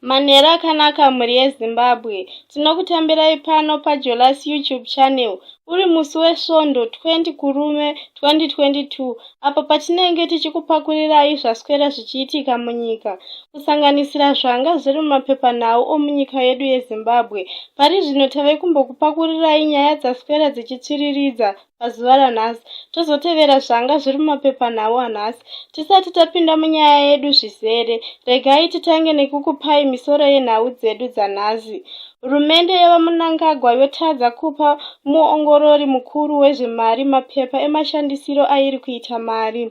Manheru akanaka mhuri yeZimbabwe. Tinokutambirai pano paJolas YouTube channel. Uri musi weSvondo 20 Kurume 2022 apo patinenge tichikupakurirayi zvaswera zvichiitika munyika kusanganisira zvanga zviri mumapepanhau omunyika yedu yeZimbabwe. Pari zvino tave kumbokupakurirayi nyaya dzaswera dzichitsviriridza pazuva ranhasi tozotevera zvanga zviri mumapepanhau anhasi tisati tapinda munyaya yedu zvizere regai titange nekukupai misoro yenhau dzedu dzanhasi hurumende yevamunangagwa yotadza kupa muongorori mukuru wezvemari mapepa emashandisiro airi kuita mari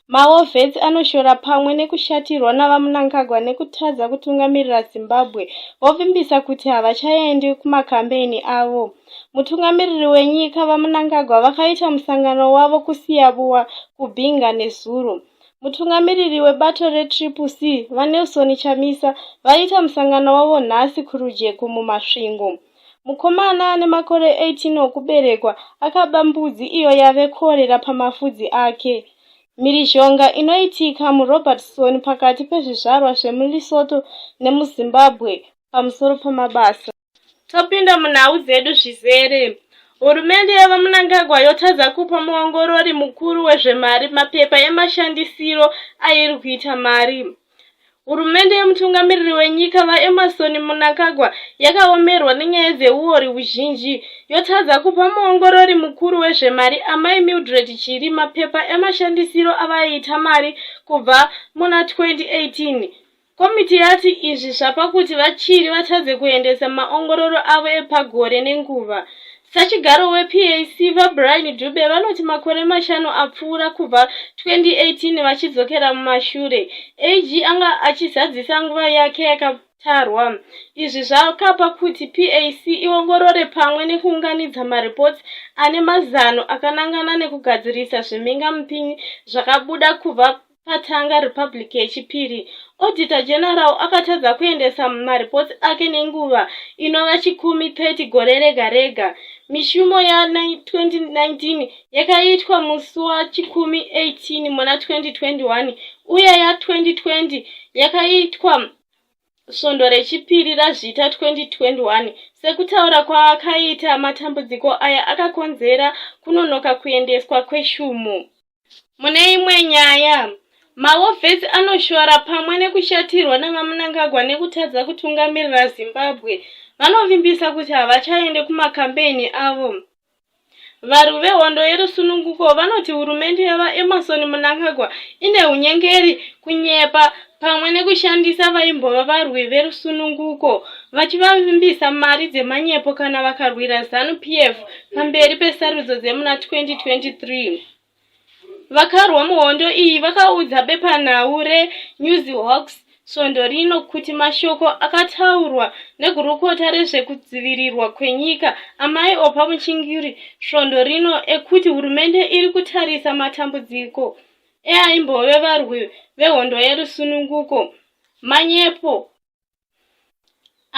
Mawo Vets anoshora pamwe nekushatirwa naVaMnangagwa nekutadza kutungamirira Zimbabwe vovimbisa kuti havachaendi kumakambeni avo. Mutungamiriri wenyika, VaMnangagwa, vakaita musangano wavo kuSiyavuwa, kuBinga nezuro. Mutungamiriri webato reTriple C, VaNelson Chamisa, vaiita musangano wavo nhasi kuRujeko, muMasvingo. Mukomana ane makore 18 okuberekwa akaba mbudzi iyo yave kuorera pamafudzi ake. Mhirizhonga inoitika muRobertson pakati pezvizvarwa zvemuLesotho nemuZimbabwe pamusoro pemabasa. Topinda munhau dzedu zvizere. Hurumende yevaMnangagwa yotadza kupa muongorori mukuru wezvemari mapepa emashandisiro airi kuita mari. Hurumende yemutungamiriri wenyika VaEmmerson Mnangagwa yakaomerwa nenyaya dzeuori huzhinji yotadza kupa muongorori mukuru wezvemari Amai Mildred Chiri mapepa emashandisiro avaiita mari kubva muna 2018. Komiti yati izvi zvapa kuti VaChiri vatadze kuendesa maongororo avo epagore nenguva. Sachigaro wePAC, VaBrian Dube, vanoti makore mashanu apfuura kubva 2018 vachidzokera mumashure, AG anga achizadzisa nguva yake yaka tarwa izvi zvakapa kuti pac iongorore pamwe nekuunganidza maripoti ane mazano akanangana nekugadzirisa zvimhingamupinyi zvakabuda kubva patanga republic yechipiri auditor general akatadza kuendesa maripoti ake nenguva inova chikumi 30 gore rega rega mishumo ya 2019 yakaitwa musi wachikumi 18 muna 2021 uye ya 2020 yakaitwa svondo rechipiri razvita 2021 sekutaura kwaakaita matambudziko aya akakonzera kunonoka kuendeswa kweshumo Mune imwe nyaya, mahofesi anoshora pamwe nekushatirwa naVaMnangagwa nekutadza kutungamirira Zimbabwe vanovimbisa kuti havachaende kumakambeni avo. Varwi vehondo yerusununguko vanoti hurumende yaVaEmmerson Mnangagwa ine hunyengeri, kunyepa pamwe nekushandisa vaimbova varwi verusununguko vachivavimbisa mari dzemanyepo kana vakarwira zanu p f pamberi pesarudzo dzemuna 2023 vakarwa muhondo iyi vakaudza bepanhau renews hawks svondo rino kuti mashoko akataurwa negurukota rezvekudzivirirwa kwenyika amai opa muchingiri svondo rino ekuti hurumende iri kutarisa matambudziko eaimbove varwi vehondo yerusununguko manyepo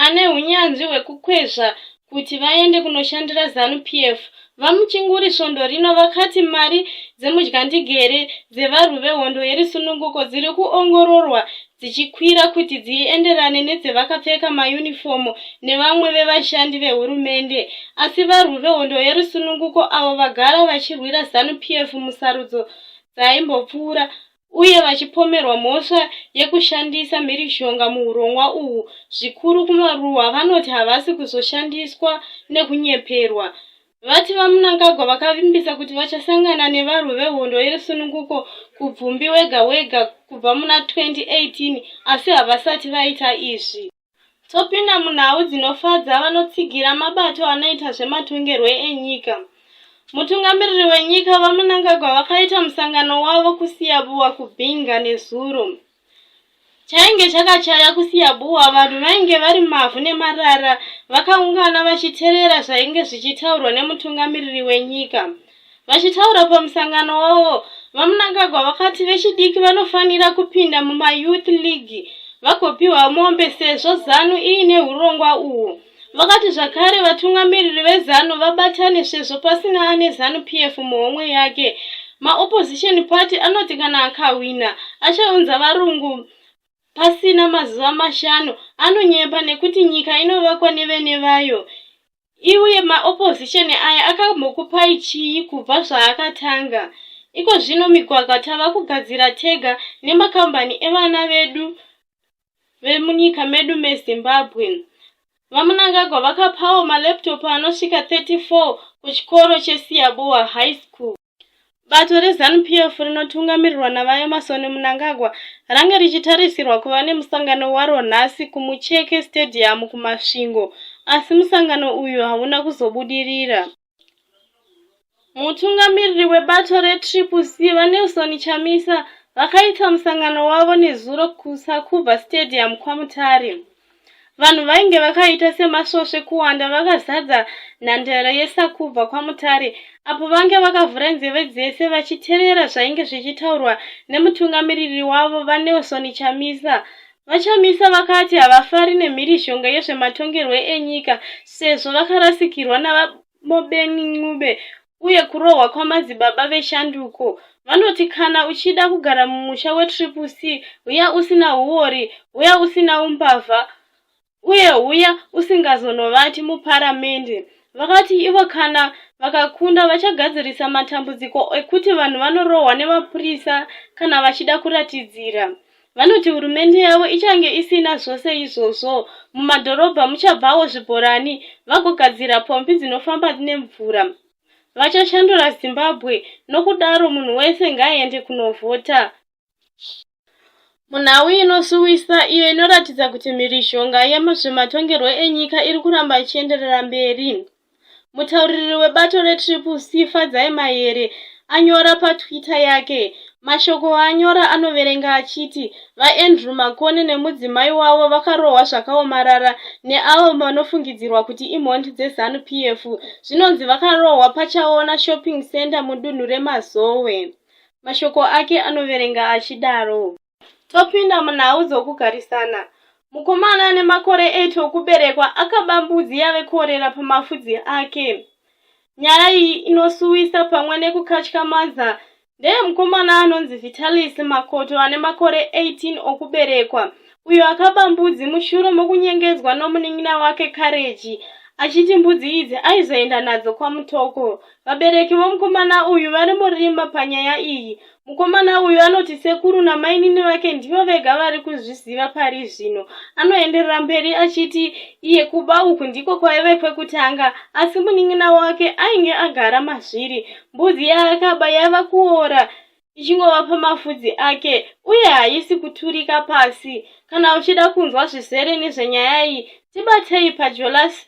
ane unyanzvi hwekukwezva kuti vaende kunoshandira zanu p f vamuchinguri svondo rino vakati mari dzemudyandigere dzevarwi vehondo yerusununguko dziri kuongororwa dzichikwira kuti dzienderane nedzevakapfeka mayunifomu nevamwe vevashandi vehurumende asi varwi vehondo yerusununguko avo vagara vachirwira zanu p f musarudzo dzaimbopfuura uye vachipomerwa mhosva yekushandisa mhirizhonga muhurongwa uhu zvikuru kumaruwa vanoti havasi kuzoshandiswa nekunyeperwa vati vamunangagwa vakavimbisa kuti vachasangana nevarwi vehondo yerusununguko kubvumbi wega wega kubva muna 2018 asi havasati vaita izvi Topinda munhau dzinofadza vanotsigira mabato anoita zvematongerwe enyika. Mutungamiriri wenyika VaMnangagwa vakaita musangano wavo kuSiyabuwa kuBinga nezuro. Chainge chakachaya kuSiyabuwa vanhu vainge vari mavhu nemarara vakaungana vachiterera zvainge zvichitaurwa nemutungamiriri wenyika. Vachitaura pamusangano wavo, VaMnangagwa vakati vechidiki vanofanira kupinda mumaYouth League vagopiwa mombe sezvo zanu iine hurongwa uhwu. Vakati zvakare vatungamiriri vezanu vabatane sezvo pasina ane zanu PF muhomwe yake. MaOpposition Party anoti kana akahwina achaunza varungu pasina mazuva mashanu anonyepa nekuti nyika inovakwa nevene vayo Iuye ma opposition aya akambokupai chii kubva zvaakatanga? Iko zvino migwagwa tava kugadzira tega nemakambani evana vedu vemunyika medu meZimbabwe. VaMunangagwa vakapawo malaptop anosvika 34 kuchikoro cheSiyabuwa High School. Bato reZanu PF rinotungamirirwa naVaEmmerson Mnangagwa range richitarisirwa kuva nemusangano waro nhasi kuMucheke Stadium kuMasvingo asi musangano uyu hauna kuzobudirira. Mutungamiriri webato reTriple C VaNelson Chamisa vakaita musangano wavo nezuro kuSakuba Stadium kwaMutare. Vanhu vainge vakaita semasvosve kuwanda vakazadza nhandare yesakubva kwamutare apo vange vakavhura nzeve dzese vachiterera zvainge zvichitaurwa nemutungamiriri wavo vanelson chamisa vachamisa vakati havafari nemhirizhonga yezvematongerwe enyika sezvo vakarasikirwa VaMobeni Ncube uye kurohwa kwamadzibaba veshanduko vanoti kana uchida kugara mumusha wetriple C huya usina huori, huya usina umbavha uye huya usingazonovati muparamende. Vakati ivo kana vakakunda vachagadzirisa matambudziko ekuti vanhu vanorohwa nemapurisa kana vachida kuratidzira. Vanoti hurumende yavo ichange isina zvose izvozvo. Mumadhorobha muchabvawo zvibhorani vagogadzira pombi dzinofamba nemvura. Vachashandura Zimbabwe nokudaro munhu wese ngaaende kunovhota. Munhau inosuwisa iyo inoratidza kuti mhirizhonga yemuzvematongerwo enyika iri kuramba ichienderera mberi. Mutauriri webato reTriple C, Fadzai Mayere, anyora paTwitter yake. Mashoko aanyora anoverenga achiti VaAndrew Makoni nemudzimai wavo vakarohwa zvakaomarara neavo vanofungidzirwa kuti imhondi dzeZanu PF. Zvinonzi vakarohwa paChaona Shopping Centre mudunhu reMazowe. Mashoko ake anoverenga achidaro. Topinda munhau dzokugarisana. Mukomana ane makore 8 okuberekwa akaba mbudzi yave kuorera pamafudzi ake. Nyaya iyi inosuwisa pamwe nekukatyamaza ndeyemukomana anonzi Vitalis Makoto ane makore 18 okuberekwa uyo akaba mbudzi mushure mokunyengedzwa nomunin'ina wake Kareji achiti mbudzi idzi aizoenda nadzo kwamutoko vabereki vomukomana uyu vari murima panyaya iyi Mukomana uyu anoti sekuru namainini vake ndivo vega vari kuzviziva pari zvino. Anoenderera mberi achiti iye kuba uku ndiko kwaive kwekutanga asi munin'ina wake ainge agara mazviri. Mbudzi yaakaba yava kuora ichingova pamafudzi ake uye haisi kuturika pasi. Kana uchida kunzwa zvizere nezvenyaya iyi, tibatei paJolasi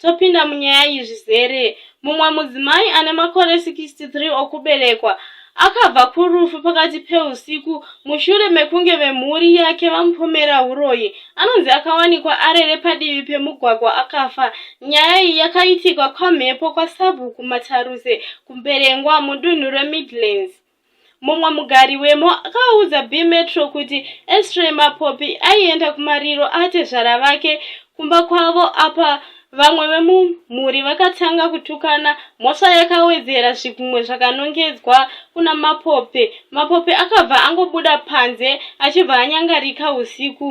Topinda munyaya iyi zvizere. Mumwe mudzimai ane makore 63 okuberekwa akabva kurufu pakati peusiku mushure mekunge vemhuri yake vamupomera uroyi anonzi akawanikwa arere padivi pemugwagwa akafa nyaya iyi yakaitikwa kwamhepo kwasabhuku mataruse kumberengwa mudunhu remidlands Mumwe mugari wemo akaudza bMetro kuti Estray Mapopi aienda kumariro atezvara vake kumba kwavo apa vamwe vemumhuri vakatanga kutukana mhosva yakawedzera zvigunwe zvakanongedzwa kuna Mapopi. Mapopi akabva angobuda panze achibva anyangarika usiku.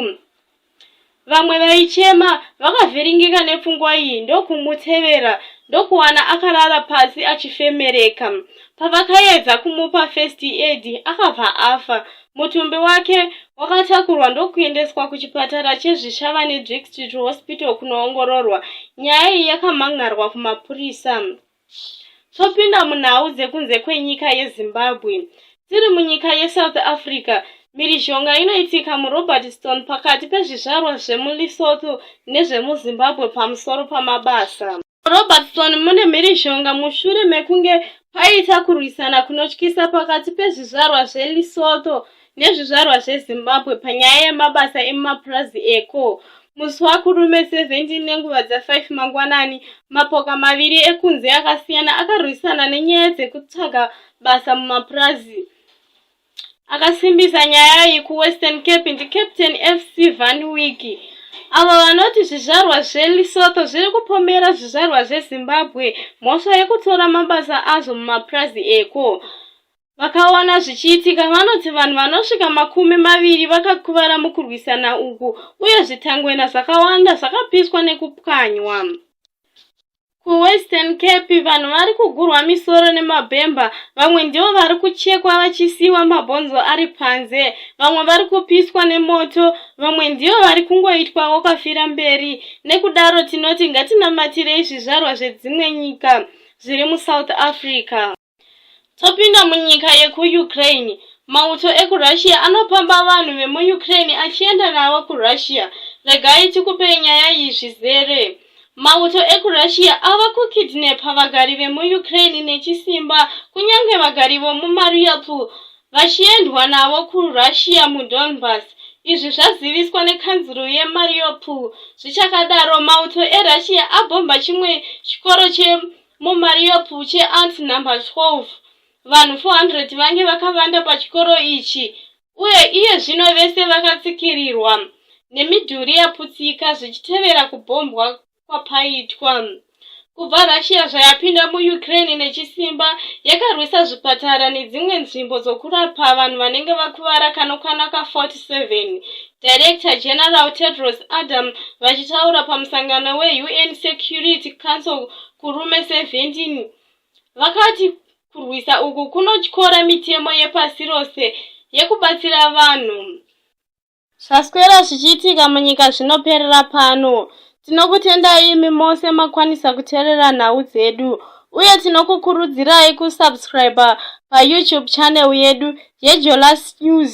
Vamwe vaichema vakavhiringika nepfungwa iyi ndokumutevera ndokuwana akarara pasi achifemereka. Pavakaedza kumupa first aid akabva afa. Mutumbi wake wakatakurwa ndokuendeswa kuchipatara cheZvishavane District Hospital kunoongororwa. Nyaya iyi yakamhan'arwa kumapurisa. Topinda munhau dzekunze kwenyika yeZimbabwe. Tiri munyika yeSouth Africa, Mhirizhonga inoitika muRobertstone pakati pezvizvarwa zvemuLesotho nezvemuZimbabwe pamusoro pamabasa. MuRobertstone mune mhirizhonga mushure mekunge paita kurwisana kunotyisa pakati pezvizvarwa zveLesotho nezvizvarwa zvezimbabwe panyaya yemabasa emumapurazi eko musi wakurume 17 nenguva dza5 mangwanani mapoka maviri ekunze akasiyana akarwisana nenyaya dzekutsvaga basa mumapurazi akasimbisa nyaya iyi kuwestern cape ndicaptain fc van wiki avo vanoti zvizvarwa zvelisotho zviri kupomera zvizvarwa zvezimbabwe mhosva yekutora mabasa azvo mumapurazi eko Vakaona zvichiitika vanoti vanhu vanosvika makumi maviri vakakuvara mukurwisana uku uye zvitangwena zvakawanda zvakapiswa nekupwanywa. KuWestern Cape vanhu vari kugurwa misoro nemabhemba, vamwe ndivo vari kuchekwa vachisiiwa mabhonzo ari panze, vamwe vari kupiswa nemoto, vamwe ndivo vari kungoitwa wokafira mberi. Nekudaro tinoti ngatinamatire izvizvarwa zvedzimwe nyika zviri muSouth Africa. Topinda munyika yekuUkraine. Mauto ekuRussia anopamba vanhu vemuUkraine achienda navo kuRussia. Regai tikupei nyaya iyi zvizere. Mauto ekuRussia ava kukidnepa vagari vemuUkraine nechisimba, kunyange vagari vomuMariupol, vachiendwa navo kuRussia muDonbas. Izvi zvaziviswa nekanzuru yeMariupol. Zvichakadaro, mauto eRussia abhomba chimwe chikoro che Mumaria Puche Arts Number 12, vanhu 400 vange vakavanda pachikoro ichi uye iye zvino vese vakatsikirirwa nemidhuri yaputsika zvichitevera kubhombwa kwapaitwa. Kubva Russia zvayapinda muUkraine nechisimba, yakarwisa zvipatara nedzimwe nzvimbo dzokurapa vanhu vanenge vakuvara kanokwana ka 47 Director General Tedros Adam vachitaura pamusangano weUN Security Council kurume 17 vakati kurwisa uku kunotyora mitemo yepasi rose yekubatsira vanhu zvaswera zvichiitika munyika zvinoperera pano tinokutendai imi mose makwanisa kuterera nhau dzedu uye tinokukurudzirai kusubscriber payoutube channel yedu yejolas news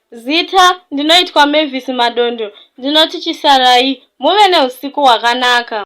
Zita, Ndinoitwa Mavis Madondo. Ndinoti chisarai. Muve neusiku hwakanaka.